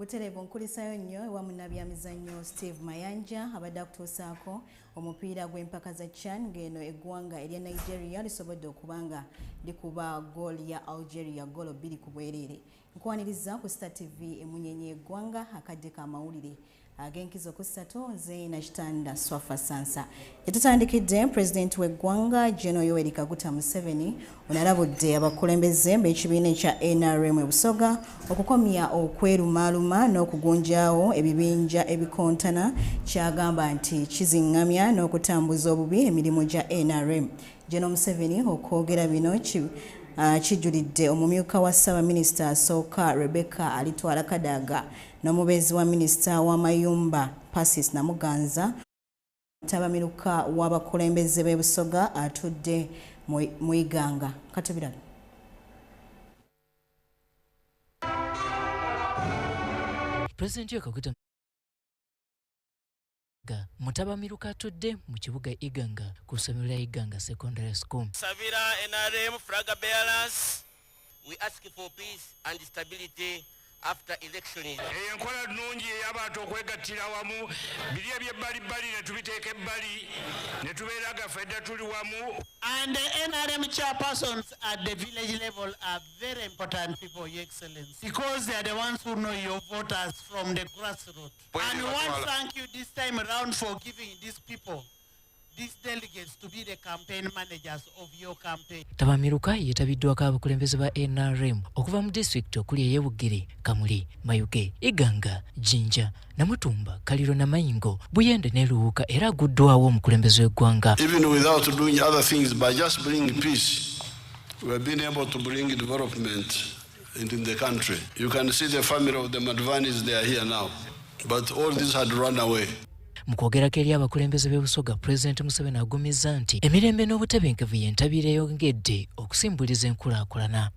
butereevu nkulisayo nnyo ewa munnabyamizannyo steve mayanja abadde akutuusaako omupiira gw'empaka za chan ng'eno eggwanga erya nigeria lisobodde okuba nga likuba gooli ya algeria goolo bbiri ku bwereere nkwaniriza ku star tv emunyenye egwanga akadde ka mawulire ag'enkizo ku ssatu nze nakitanda swafa sansa etutandikidde pulezidenti w'eggwanga geno yoweri kaguta museveni onalabudde abakulembeze b'ekibiina ekya nrm ebusoga okukomya okwerumaaluma n'okugunjaawo ebibinja ebikontana kyagamba nti kiziŋŋamya n'okutambuza obubi emirimu gya nrm General Museveni okwogera bino ah, kijulidde omumyuka wa ssaabaminisita asooka Rebecca Alitwala Kadaga n'omubeezi wa minisita w'amayumba Persis Namuganza ttabamiruka w'abakulembeze b'e Busoga atudde mu Iganga. Katubirala. President Yoweri Kaguta Iganga. Mutabamiruka atudde mu kibuga Iganga ku ssomero lya Iganga Secondary School. Sabira NRM flag bearers. We ask for peace and stability after election. Eyo enkola nnungi ey'abantu okwegattira wamu biri eby'ebbalibbali ne tubiteeka ebbali ne tubeera gaffe dda tuli wamu. And the NRM chairpersons at the village level are very important people, Your Excellency, because they are the ones who know your voters from the grassroots. And we want to thank you this time around for giving these people these delegates to be the campaign managers of your campaign. Tabamiruka yetabiddwako abakulembeze ba NRM okuva mu district okuli ey'Ebugiri, Kamuli, Mayuge, Iganga, Jinja, Namutumba, Kaliro na Mayingo, Buyende ne Luwuka era aguddwawo omukulembeze w'eggwanga. Even without doing other things by just bringing peace, we have been able to bring development and in the country. You can see the family of the Madvanis, they are here now. But all these had run away. mu kwogerako eri abakulembeze b'ebusoga pulezidenti museveni agumizza nti emirembe n'obutebenkevu y'entabiro eyongedde okusimbuliza enkulaakulana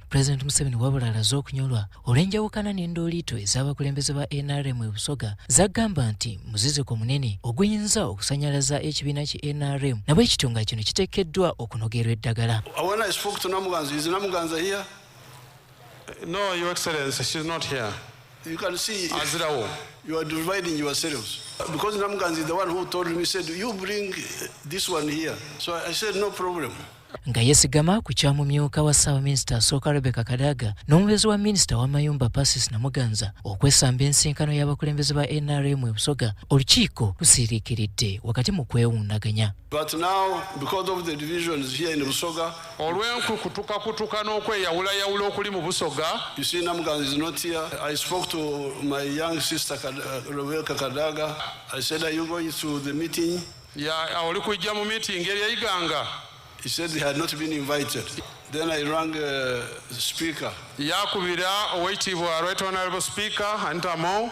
Pulezidenti Museveni wabula alaze okunyolwa olw'enjawukana n'endooliito ez'abakulembeze ba nrm e Busoga zagamba nti muziziko munene oguyinza okusanyalaza ekibiina ki nrm nabwe kityo nga kino kiteekeddwa okunogerwa eddagala. No, Your Excellency, she's not here. You can see Azirawo. you are dividing yourselves. Because Namganzi is the one who told me, said, you bring this one here. So I said, no problem. nga yesigama ku kya mumyuka wa ssaabaminisita asooka rebeka kadaga n'omubeezi wa minisita w'amayumba pasis namuganza okwesamba ensinkano y'abakulembeze ba nrm ebusoga olukiiko lusiiriikiridde wakati mu kwewundaganya But now, because of the divisions here in Busoga, olw'enkukutukakutuka n'okweyawulayawula okuli mu Busoga, you see Namgan is not here. I spoke to my young sister Kad- uh, Rebecca Kadaga. I said, Are you going to the meeting? ya- oli kujja mu miitingi eri eyiganga He said he had not been invited. Then I rang uh, Speaker. yakubira owekitiibwa right honorable speaker anita among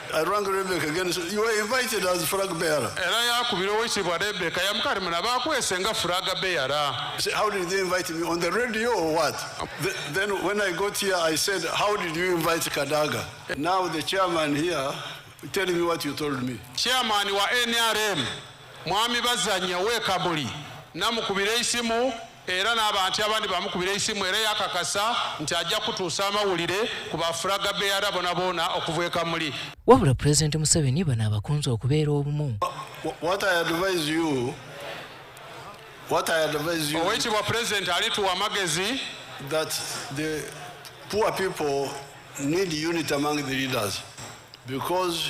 I rang Rebecca again. He said, You were invited as flag bearer. era yakubira owekitiibwa rebeka yamukati muna bakwese nga furaga beyara He said, How did they invite me? On the radio or what? Th- then when I got here, I said, How did you invite Kadaga? Now the chairman here tell me what you told me. chairman wa nrm mwami bazanya wekamuli namukubira esimu era n'abantu abandi bamukubira esimu era yakakasa nti ajja kutuusa amawulire ku bafuraga beyara bona boona okuva e kamuli wabula pulezidenti museveni bano abakunze okubeera obumu owekitibwa pulezidenti alituwa amagezi that the poor people need unity among the leaders because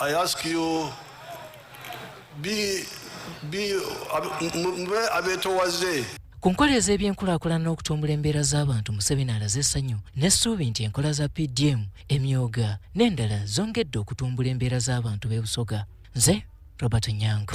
I ask you be, be, mube abetowaze ku nkola ez'ebyenkulaakulana n'okutumbula embeera z'abantu museveni alaze essanyu n'essuubi nti enkola za pdm emyoga n'endala zongedde okutumbula embeera z'abantu b'e busoga nze robert nyango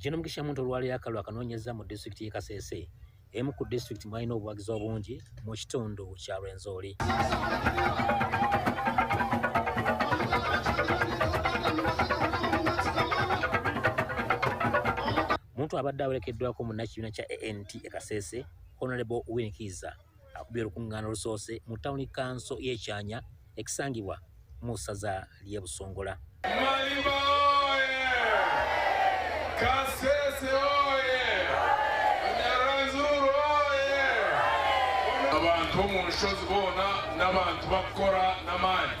Jeno Mugisha Muntu olwaleero akalulu akanoonyezza mu disitulikiti y'e Kasese emu ku disitulikiti mwalina obuwagizi obungi mu kitundu kya Rwenzori. Muntu abadde awerekeddwako munnakibiina kya ANT e Kasese Honorable Winnie Kiiza akubye olukungaana olusoose mu tawuni kanso y'ekyanya ekisangibwa mu ssaza ly'e Busongola. Maliba oye! Kasese oye! Nyaranzuru oye! Abantu mu nshozi bona n'abantu bakora n'amaanyi.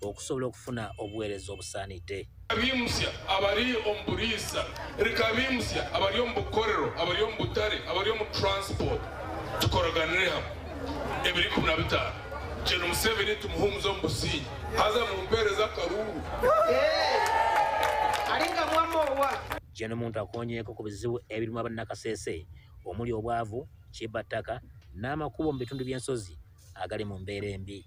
okusobola okufuna obuweereza obusaanidde abimusya abali omu buriisa reka abimusya abali omu bukorero abali omu butale abali omu transport tukoroganire hamu ebiri kumi na bitaano kino museveni tumuhumuza omu busingi haza mumpeereza akaruru jeno muntu akonyeeko ku bizibu ebirimu abannakasese omuli obwavu kibattaka n'amakubo mu bitundu by'ensozi agali mu mbeera embi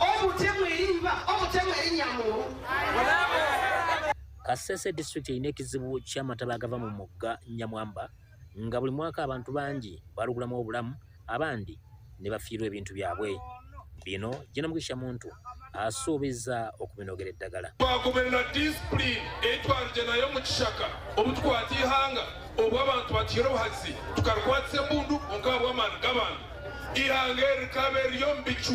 Omutemu erimba, omutemu erinya mulu. Kasese district erina ekizibu ky'amataba agava mu mugga Nyamwamba nga buli mwaka abantu bangi balugulamu obulamu abandi ne bafiirwa ebintu byabwe. Bino Jena Mugisha Muntu asuubiza okubinogera eddagala. Twagoberera disipulini etwalije nayo mu kishaka obutukwata ihanga obwo abantu batihira obuhazi tukarukwatisa embundu onkabwamaani g'abantu ihanga erikaba eriyo mu bicu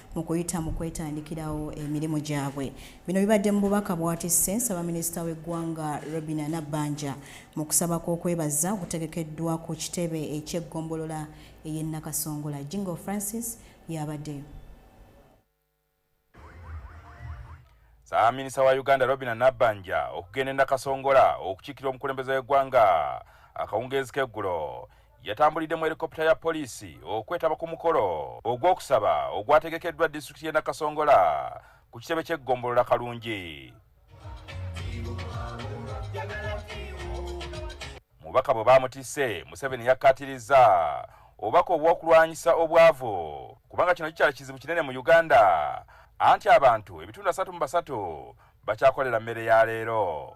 mu kuyita mu kwetandikirawo emirimu gyabwe bino bibadde mu bubaka bwatisse nsabaminisita w'eggwanga robina nabbanja mu kusaba kw'okwebaza okutegekeddwa ku kitebe eky'eggombolola ey'e nakasongola jingo francis yabaddeyo saaminisa wa uganda robina nabbanja okugenda e nakasongola okukiikira omukulembeze w'eggwanga akawungeezi k'eggulo yatambulidde mu helikopita ya poliisi okwetaba ku mukolo ogw'okusaba ogwategekeddwa disitulikiti y'e nakasongola ku kitebe ky'eggombolola kalungi mubaka bwe baamutisse museveni yakkaatirizza obubaka obw'okulwanyisa obwavu kubanga kino kikyala kizibu kinene mu uganda anti abantu ebitundu asatu mu basatu bakyakolera mmere ya leero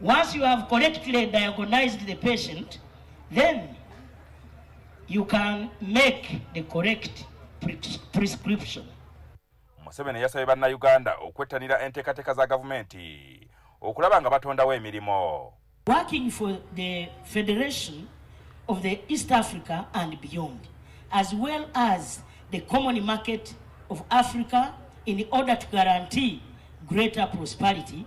Once you have correctly diagnosed the patient, then you can make the correct prescription. Museveni yasabye bannayuganda okwettanira enteekateeka za gavumenti okulaba nga batondawo emirimu. Working for the Federation of the East Africa and beyond, as well as the common market of Africa in order to guarantee greater prosperity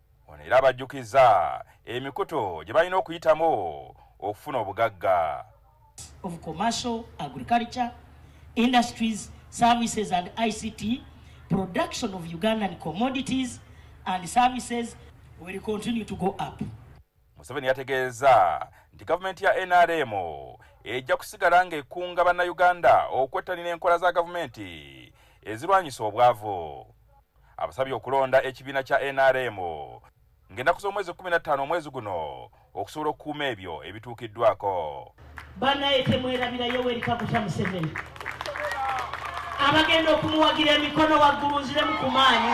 Ono era abajjukizza emikutu gye balina okuyitamu okufuna obugagga. of commercial, agriculture, industries, services and ICT, production of Ugandan commodities and services will continue to go up. Museveni yategeeza nti gavumenti ya NRM ejja kusigala ng'ekunga bannayuganda okwettanira enkola za gavumenti ezirwanyisa obwavu. abasabye okulonda ekibiina kya nrm ng'ennaku z'omwezi 15 omwezi guno okusobola okukuuma ebyo ebituukiddwako banaye temwerabira yoweri kaguta museveni abagenda okumuwagira emikono waggulu nziremu ku maanyi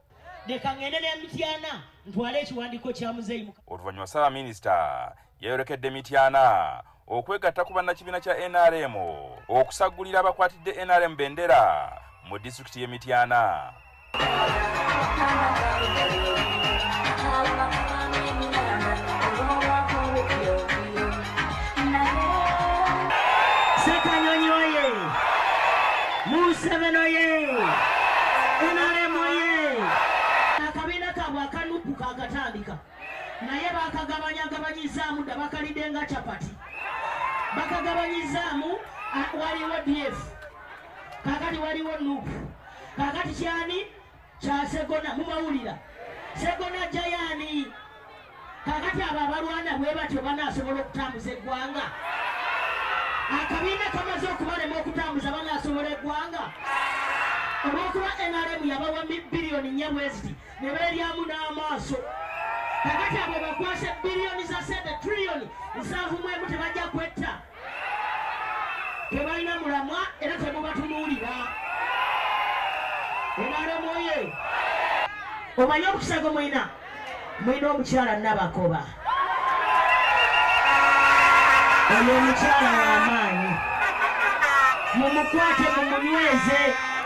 leka ngende ne mityana ntwale ekiwandiiko kya muzeeyi oluvannyuma ssaabaminisita yayolekedde mityana okwegatta ku bannakibiina kya nrm okusaggulira abakwatidde nrm bendera mu disitulikiti y'e mityana Ssekanyonyi oye! Museveni oye! NRM oye! Akabiina kaabwe akanupu kaakatandika naye bakagabanyagabanyizaamu dda bakalidde nga capati bakagabanyizaamu waliwo df kakati waliwo nupu kakati kyani kya segona mubawulira segona jayani kakati abo abalwana bwe batyo banasobola okutambuza eggwanga akabiina kamaze okubalema okutambuza banasobola eggwanga olwokuba nrm yabawa biliyoni nya bweziti ne beeryamu n'amaaso kakati abo bakwasa biliyoni za sente triliyoni nsanvu mwemu tebajja kwetta tebalina mulamwa era temubatunuulira enalemwoye omanye okusago mwina mwina omukyala nabakoba oyo omukyala wamaanyi mumukwate mumunyweze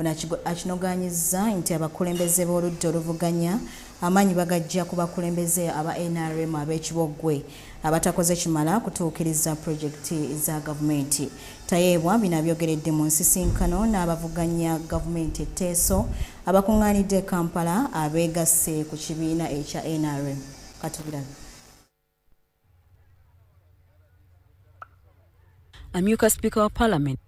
Ono akinogaanyizza nti abakulembeze b'oludda oluvuganya amaanyi bagaggya ku bakulembeze aba nrm ab'ekiboggwe abatakoze kimala kutuukiriza pulojekiti za gavumenti. Tayeebwa bino abyogeredde mu nsisinkano n'abavuganya gavumenti etteeso abakung'aanidde e Kampala abeegasse ku kibiina ekya nrm. Katubirabe. amyuka sipiika wa palamenti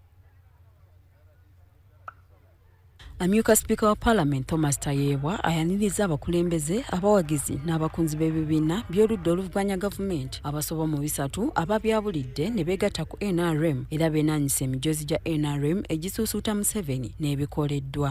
amyuka sipiika wa palamenti thomas tayeebwa ayaniriza abakulembeze abawagizi n'abakunzi b'ebibiina by'oludda oluvuganya gavumenti abasoba mu bisatu ababyabulidde ne beegatta ku nrm era beenaanyisa emijoozi gya nrm egisuusuuta museveni n'ebikoleddwa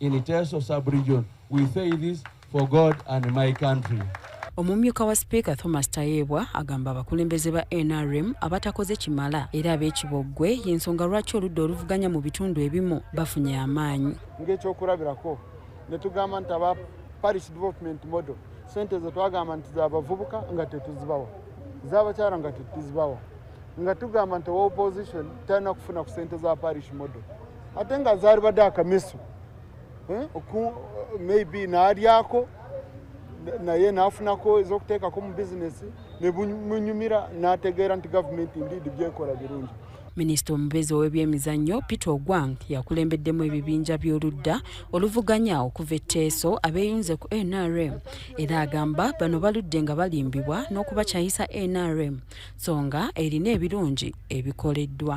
in Teso sub-region. We say this for God and my country. omumyuka wa sipiika thomas tayebwa agamba abakulembeze ba nrm abatakoze kimala era ab'ekiboggwe y'ensonga lwaki oludda oluvuganya mu bitundu ebimu bafunye amaanyi ng'ekyokulabirako ne tugamba nti aba paris development model sente ze twagamba nti zabavubuka nga tetuzibawa zabakyala nga tetuzibawa nga tugamba nti owa opposition talina kufuna ku sente za parish model ate nga zaalibadde akamisu eh, maybe naalyako naye naafunako ez'okuteekako mu bizinesi ne munyumira n'ategeera nti gavumenti ndiidi byekola birungi minisita omubezi ow'ebyemizannyo peter ogwang yakulembeddemu ebibinja by'oludda oluvuganya okuva etteeso abeeyunze ku nrm era agamba bano baludde nga balimbibwa n'okubakyayisa nrm so nga erina ebirungi ebikoleddwa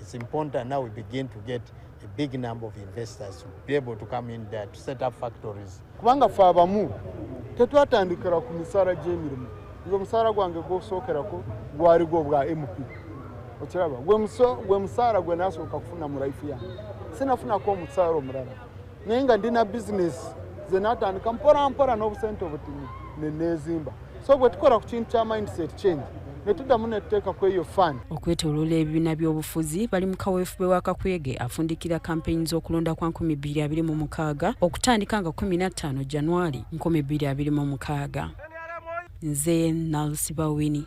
It's important now we begin to get a big number of investors to be able to come in there to set up factories. Kubanga fe abamu tetwatandikira ku misaala gy'emirimu nze omusaala gwange gwosookerako gwali gwo bwa mp okiraba gwe musaala gwe nasooka kufuna mu life yange sinafunako omusaala omulala naye nga ndina bizinesi ze natandika mporampora n'obusente obutini neneezimba so bwe tukola ku kintu kya mindset change netuddamu netuteeka ku eyo fan okwetoloola ebibiina by'obufuzi bali mu kaweefube wa kakuyege afundikira kampeyini z'okulonda kwa 226 okutandika nga 15 januari 226 nze nalsibawini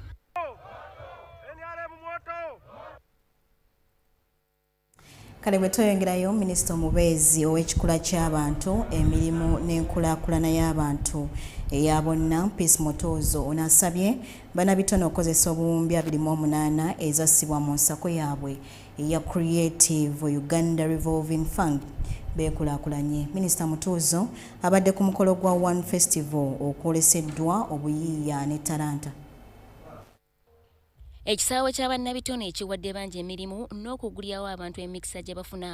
kale bwe tweyongerayo minisita omubeezi ow'ekikula ky'abantu emirimu n'enkulaakulana y'abantu eya bonna peace mutuuzo ono asabye banabitone okukozesa obuwumbi 28 ezassibwa mu nsako yaabwe eya creative uganda revolving fund beekulakulanye minisita mutuuzo abadde ku mukolo gwa one festival okwoleseddwa obuyiiya ne talanta ekisaawe kya bannabitone ekiwadde bangi emirimu n'okugulyawo abantu emikisa gye bafuna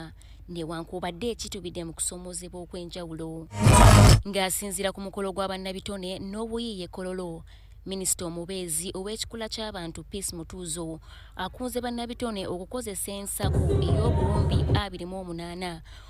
newankubadde ekitubidde mu kusomoozebwa okw'enjawulo ng'asinziira ku mukolo gwa bannabitone n'obuyiiya ekololo minisita omubeezi ow'ekikula ky'abantu peace mutuuzo akunze bannabitone okukozesa ensaku ey'obuwumbi 28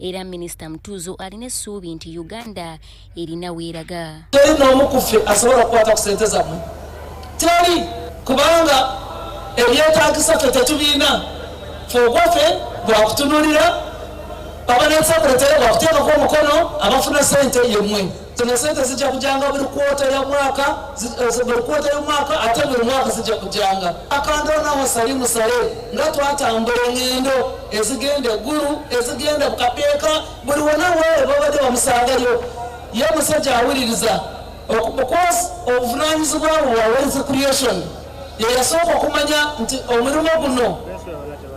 era minisita mutuuzo alina essuubi nti uganda erina weeraga teri n'omu ku ffe asobola okukwata ku sente zammwe teri kubanga ebyetagisa ffe tetubiina fe ogwaffe bwakutunulira abanaesakuletere bwakuteekako omukono abafuna sente yemwe zino sente zijja kujanga buli kwota ya mwaka eh, buli kwota y'omwaka ate buli mwaka zijja kujanga akandoonawo sali musale nga twatambula engendo ezigenda eggulu ezigenda bukapeeka buli wona wewe babadde bamusangayo ye musajja awuliriza because obuvunanyizibwa bwe wa wealth creation yeyasooka okumanya nti omulimu guno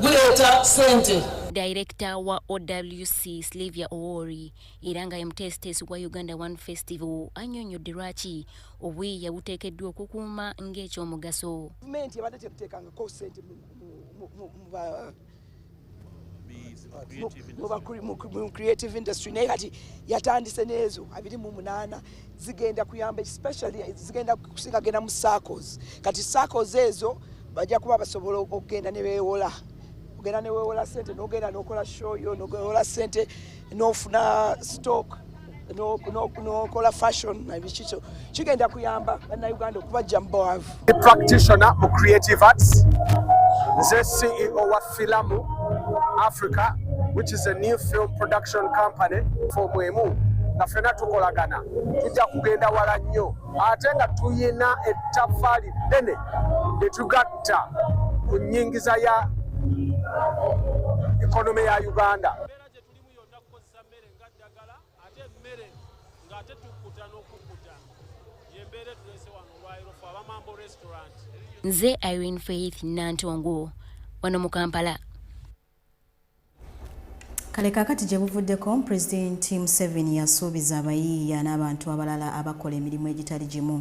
guleeta sente Director wa OWC Sylvia Owori era nga emuteesiteesi gwa uganda one festival annyonnyodde lwaki obweya buteekeddwa okukuuma ng'ekyomugaso gavumenti ebadde tebuteekangako sente mu creative industry naye kati yatandise n'ezo abiri mu munaana zigenda kuyamba especially zigenda kusinga genda mu circles kati circles ezo bajja kuba basobola okugenda ne beewola ogenda ne weewola sente n'ogenda n'okola show yo n'ogewola sente nofuna stock nokola fashion nabikikyo kigenda kuyamba banauganda okubajja mubawavu practitioner mu creative arts nze ceo wa filamu africa which is a new film production company for mwemu nga fena tukolagana tujja kugenda wala nnyo ate nga tuyina ettafaali ddene lyetugatta ku nyingiza ya ekonome ya uganda gye tulimu yonna kukozesa mmere nga ddagala ate emmere ng'ate tukkuta n'okukkuta yembeera etuleese wano olwayiro fe abamambo restaurant nze irene faith nantongo wano mu kampala kale kakati gye buvuddeko pulezidenti museveni yasuubiza abayiiya n'abantu abalala abakola emirimu egitali gimu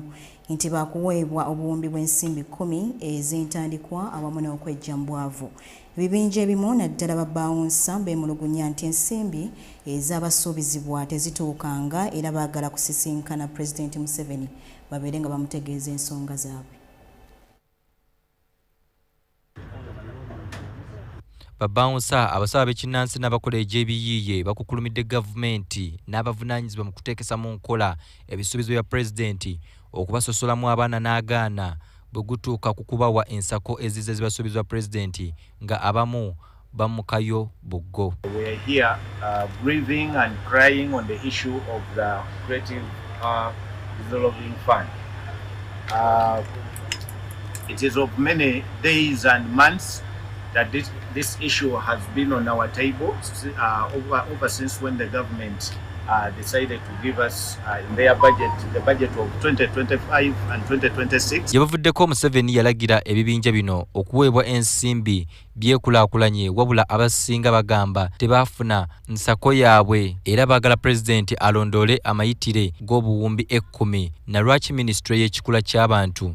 nti baakuweebwa obuwumbi bw'ensimbi kkumi ez'entandikwa awamu n'okwejja mu bwavu Ebibinja ebimu naddala babbaawunsa beemulugunya nti ensimbi ezaabasuubizibwa tezituukanga era baagala kusisinkana Pulezidenti Museveni babeere nga bamutegeeza ensonga zaabwe. Babbaawunsa abasaba ab'ekinnansi n'abakola egy'ebiyiiye bakukulumidde gavumenti n'abavunaanyizibwa mu kuteekesa mu nkola ebisuubizo bya Pulezidenti okubasosolamu abaana n'agaana bwe gutuuka ku kubawa ensako ezizze zibasuubizwa Pulezidenti nga abamu bamukayo buggo. It is of many days and months that this, this issue has been on our table uh, over, over since when the government uh, decided to give us Gye buvuddeko Museveni yalagira ebibinja bino okuweebwa ensimbi byekulaakulanye wabula abasinga bagamba tebaafuna nsako yaabwe era baagala pulezidenti alondoole amayitire g'obuwumbi ekkumi na lwaki minisitule y'ekikula ky'abantu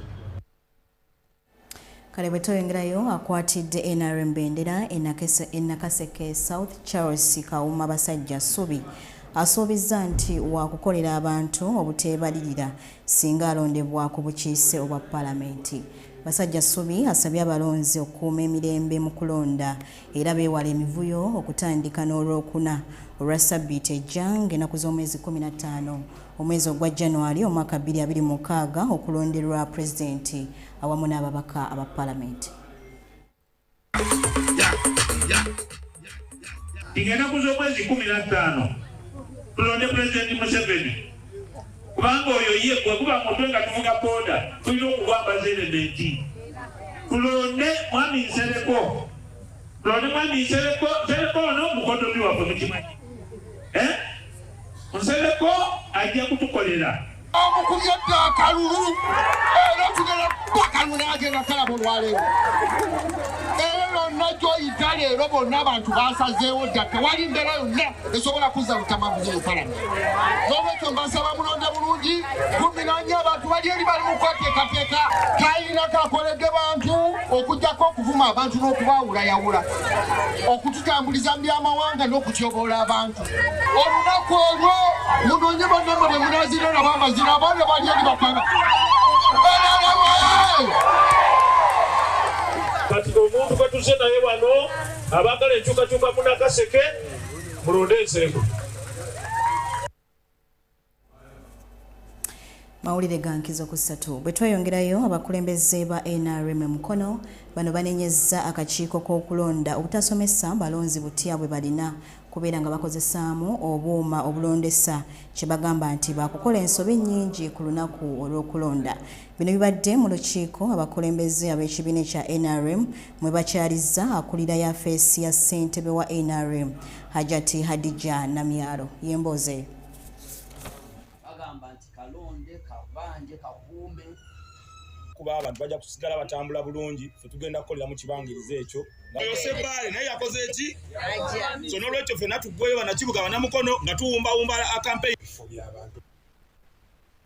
kale bwe tweyongerayo akwatidde nrm bendera enakaseke south charles kawuma basajja subi asuubizza nti wakukolera abantu obuteebalirira singa alondebwa ku bukiise obwa palamenti basajja subi asabye abalonzi okukuuma emirembe mu kulonda era beewala emivuyo okutandika n'olwokuna olwa ssabbiiti ejja ng'enaku z'omwezi 15 omwezi ogwa january omwaka 2026 okulonderwa pulezidenti awamu n'ababaka aba palamenti ng'enaku z'omwezi 15 tulonde pulezidenti museveni kubanga oyo ye bwe guba mutwe nga tuvuga boda tulina okugwambaza elementi tulonde mwami nsereko tulonde mwami nsereko nsereko ono mukodomi waffe mukimanyi eh? nsereko ajja kutukolera omukubye dda akalulu era tugera bakalulu nagenda kalaba olwaleero era lonna gyoyita leero bonna abantu basazeewo dda tewali mbeera yonna esobola kuzza lutamabuzi mukalaba n'olwekyo mbasaba mulonde bulungi guminanya abantu bali eri bali mu kweteekateeka kalina kakoledde bantu okujjako okuvuma abantu n'okubaawulayawula okututambuliza mu by'amawanga n'okutyoboola abantu olunaku olwo munoonye bannamwe bwe munazira nabo amazira abaana bali eri bakwaba kati omuntu gwe tuze naye wano abaagala enkyukakyuka munakaseke mulonde ensereko mawulire ga nkizo ku ssatu bwe tweyongerayo abakulembeze ba nrm e mukono bano banenyezza akakiiko k'okulonda obutasomesa balonzi butya bwe balina kubeera nga bakozesaamu obuuma obulondesa kye bagamba nti baakukola ensobi nnyingi ku lunaku olw'okulonda Bino bibadde mu lukiiko abakulembeze ab'ekibiina ekya nrm mwe bakyalizza akulira yafeesi ya ssentebe wa nrm Hajati Hadija Namyalo y'emboozi eyo. kuba abantu bajja kusigala batambula bulungi fe tugenda kukolera mu kibangiriza ekyo yosebaale naye yakoze eki so nolwekyo fena tuggweyo banakibuga banamukono nga tuwumbawumba akampeyifo byabantu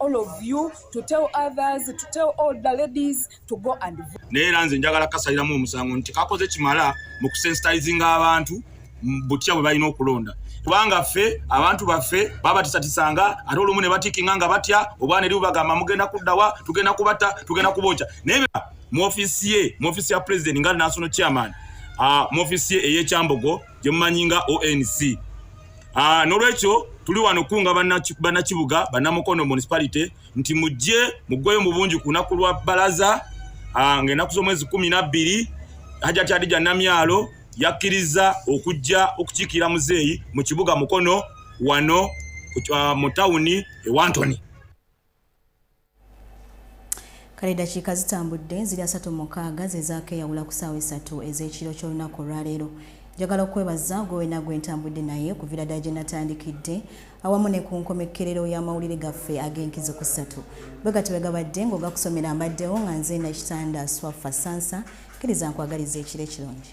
all of you to tell others to tell all the ladies to go and vote naye era nze njagala kasaliramu omusango nti kakoze kimala mu kusensitizinga abantu butya bwe balina okulonda kubanga ffe abantu baffe babatisatisanga ate olumu ne batikinga nga batya obwana eri bubagamba mugenda kuddawa tugenda kubata tugenda kubokya naye mu ofisi ye mu ofisi ya president nga national chairman uh, mu ofisi ye eyekyambogo gyemumanyi nga onc ah, nolwekyo tuli wano kunga banakibuga banamukono municipality nti mujje mugweyo mubungi kunaku lwa balaza ah, ngaenaku zomwezi kumi nabbiri hajati adija namyalo yakkiriza okujja okukiikira muzeeyi mu kibuga mukono wano ah, mu tawuni ewantoni kale dakiika zitambudde ziri asatu mukaaga zezaakeyawula ku saawa esatu ez'ekiro ky'olunaku olwaleero njagala okwebaza gwe wena gwe ntambudde naye okuvira ddala gye natandikidde awamu ne ku nkomekkerero y'amawulire gaffe ag'enkizo ku ssatu bwe gati bwe gabadde ng'ogakusomera mbaddewo nga nze nakitanda swaffa sansa kkiriza nkwagaliza ekiro ekirungi